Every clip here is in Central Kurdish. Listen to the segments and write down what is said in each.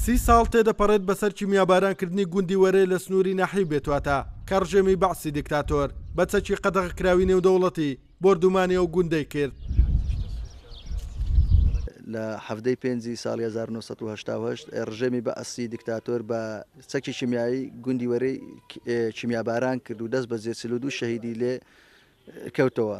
سی ساڵ تێدەپەڕێت بەسەر کیمیابارانکردنی گوندی وەرێ لە سنووری ناحیەی بێتواتە کە ڕژێمی بەعسی دیکتاتۆر بە چەکی قەدەغەکراوی نێودەوڵەتی بۆردومانی ئەو گوندەی کرد. لە حەڤدە ی پێنجی ساڵی هەزار و نۆ سەد و هەشتا و هەشت ڕژێمی بەعسی دیکتاتۆر بە چەکی کیمیایی گوندی وەرێی کیمیاباران کرد و دەست بەجێ چل و دوو شەهیدی لێ کەوتەوە.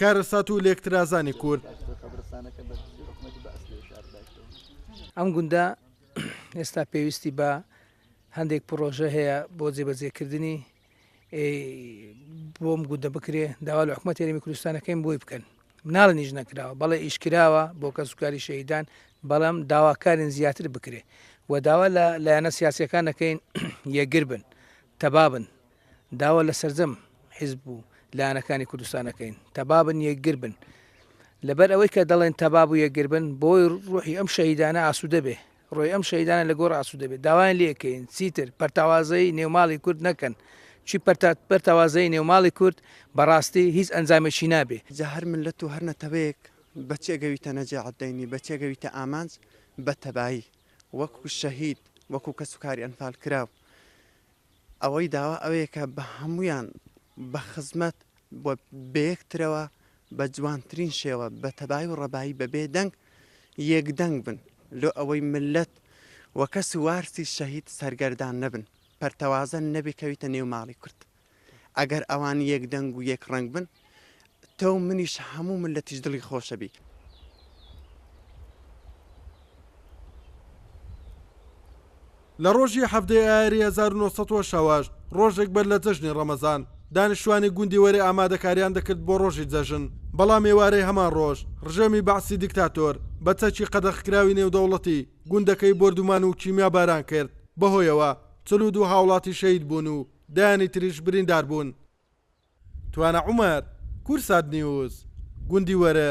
کارەسات و لێکترازانی کورد. ئەم گوندە ئێستا پێویستی بە هەندێک پرۆژە هەیە بۆ جێبەجێکردنی بۆم گوندە بکرێ داوا لە حکومەت یاریمی کوردستانەکەیم بۆی بکەن مناڵ نیش نەکراوە بەڵێ ئیشکراوە بۆ کەسوکاری شەیدان بەڵام داواکارن زیاتر بکرێ و داوا لە لایەنە سیاسەکان نەکەین یەگر بن تەبابن داوا لە سەرجەم حیزب و لایەنەکانی کوردستان ئەکەین تەبابن یەکگر بن لەبەر ئەوەی کە دەڵێن تەباب و یەکگر بن بۆی ڕوحی ئەم شەهیدانە ئاسوودە بێ ڕۆی ئەم شەیدانە لە گۆڕ ئاسو دەبێت داوایان لەکەین چیتر پەرتاوازەی نێوماڵی کورد نەکەن چی پەرتاوازەی نێوماڵی کورد بەڕاستی هیچ ئەنجامێکی نابێ جا هەر ملت و هەر نەتەوەیەک بە چێگەویتە نەجێعدەینی بە چێگەویتە ئامانج بە تەبایی وەکو شەهید وەکو کەس و کاری ئەنفال کراو ئەوەی داوا ئەوەیە کە بە هەموویان بە خزمەت بۆ بەیەکترەوە بە جوانترین شێوە بە تەبایی و ڕەبایی بە بێ دەنگ یەک دەنگ بن لۆ ئەوەی ملت و کەس و وارسی شەهید سەرگەردان نەبن پەرتەوازە نەبێ کەویتە نێو ماڵی کورد ئەگەر ئەوان یەک دەنگ و یەک ڕەنگ بن تۆو منیش هەموو ملەتیش دڵی خۆشەبی. لە ڕۆژی حەڤدە ی ئایاری هەزار و نۆ سەد و شەست، ڕۆژێک بەر لە جەژنی ڕەمەزان، دانیشتووانی گوندی وەرێ ئامادەکارییان دەکرد بۆ ڕۆژی جەژن، بەڵام ئێوارەی هەمان ڕۆژ، ڕژێمی بەعسی دیکتاتۆر، بە چەکی قەدەخکراوی نێودەوڵەتی، گوندەکەی بۆردومان و کیمیاباران کرد، بەهۆیەوە چل و دوو هاوڵاتی شەهید بوون و دەیانی تریش بریندار بوون. توانا عومەر، کورسات نیوز، گوندی وەرە،